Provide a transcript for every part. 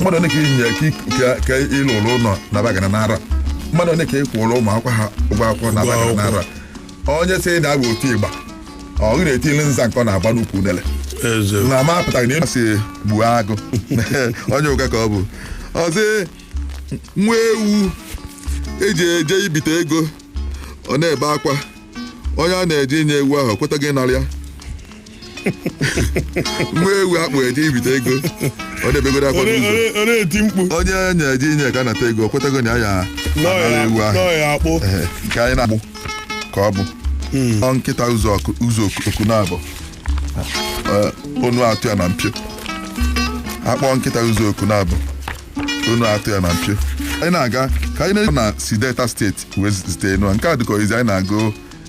mmadụ one ka inye ka ịlụrụ ụlọ na bagana n'ara mmadụ one ka ịkwụrụ ụmụ akwụkwọ ha ụgwọ akwụkwọ na bagana n'ara onye sị na abụ otu ịgba ọ gị na-etili nza nke ọ na-agba n'ukwu unele na ma apụtaghị na ị masị gbuo agụ onye ụka ka ọ bụ ọzọ nwa ewu eji eje ibite ego ọ na-ebe akwa onye a na-eje inye ewu ahụ kwetaghị ịnara ya nwa ewu akpụ eje ibite ego ọ bebegoro akwa n'ụzọ Onye- onye eti mkpu onye na-eje inye ka anata ego kwetago na ya ya anara ewu ahụ nọọ ya akpụ Ehe, nke anyị na-agụ ka ọ bụ ọ nkịta ụzọ oku ụzọ oku- oku naabọ Ee, onu atọ ya na mpio akpọ nkịta ụzọ oku naabọ onu atọ ya na mpio anyị na-aga ka anyị na-eje na si delta steeti wee zite inu a. nke a dịka oyizi anyị na-agụ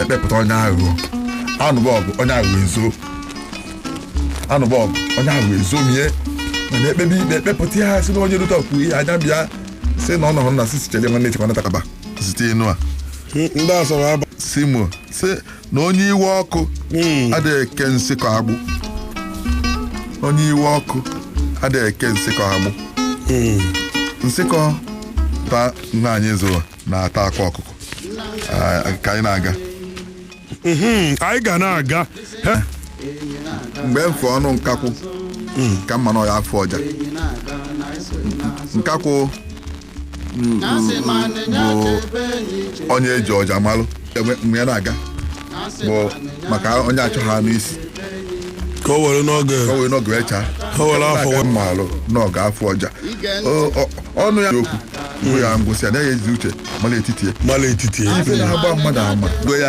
ekpepụta onye aghụghọ anụba ọgụ onye aghụghọ ezo anụba ọgụ onye aghụghọ ezomie mana ekpebe ikpe ekpepụta ya si na onye rute ọkwu ihe anya bịa si na ọ nọrọ na sisi chere nwanne chekwa natakaba zite inu a ndị asọrọ aba simo si na onye iwe ọkụ adịghị eke nsịkọ agbụ onye iwe ọkụ adịghị eke nsịkọ agbụ nkịta nna anyị zụrụ na-ata akwa ọkụkọ Ah, ka anyị na-aga Mhm, anyị ga na-aga He? mgbe m fụ ọnụ nkakwụ ka m ma na ọ ya-afụ ọja nkakwụ mm, bụ onye eji ọja malụ Egbe mgbe ya na-aga bụ maka onye achọ ha n'isi ka o were n'oge o wee n'oge wee chaa O were afọ Ọ na-aga malụ n'oge afụ ọja O- o- ọnụ ya okwu bụ ya ngwụsị anaghị ezi uche mara etiti ya mala etiti ya ife na-agba mmadụ ama Gwa ya